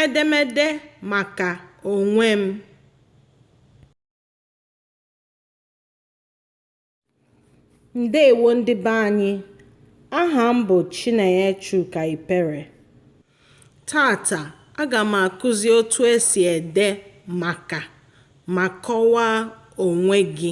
Edemede maka onwe m. Ndeewo ndị be anyị. Aha m bụ Chinenye Chuka Ipere. Taata, aga m akụzi otu esi ede maka ma kọwaa onwe gị.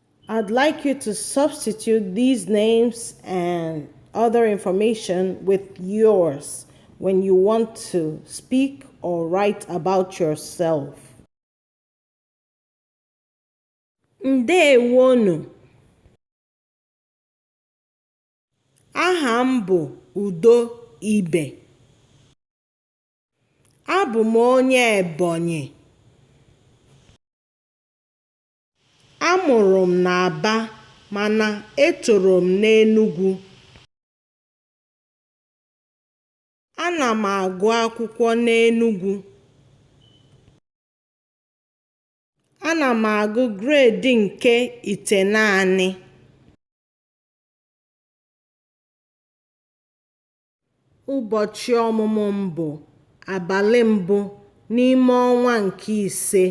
I'd like you to substitute these names and other information with yours when you want to speak or write about yourself. Ndewonu. Aha m bụ Udo Ibe. Abụ m onye Ebonyi. A mụrụ m n'Aba mana etoro m n'Enugwu. Ana m agụ akwụkwọ n'Enugwu. Ana m agụ gredi nke itenaanị. Ụbọchị ọmụmụ m bụ abalị mbụ n'ime ọnwa nke ise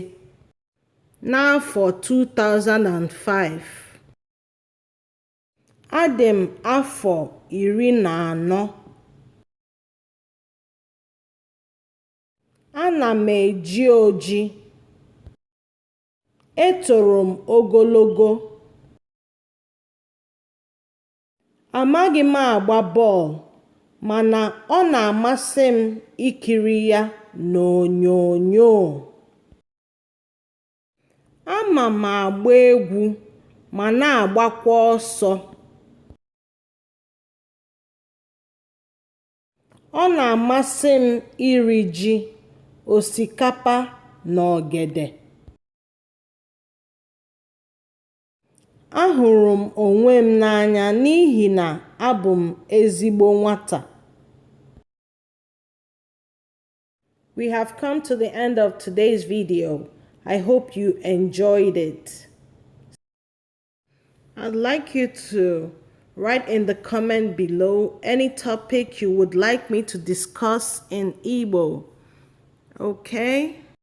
n'afọ 2005. Adị m afọ iri na anọ. Ana m eji oji. Etoro m ogologo. Amaghị m agba bọọlụ mana ọ na-amasị m ikiri ya n'onyonyo. Ama m agba egwu ma na-agbakwa ọsọ. Ọ na-amasị m iri ji, osikapa na ogede. Ahụrụ m onwe m n'anya n'ihi na abụ m ezigbo nwata. We have come to the end of today's video. I hope you enjoyed it. I'd like you to write in the comment below any topic you would like me to discuss in Igbo. Okay?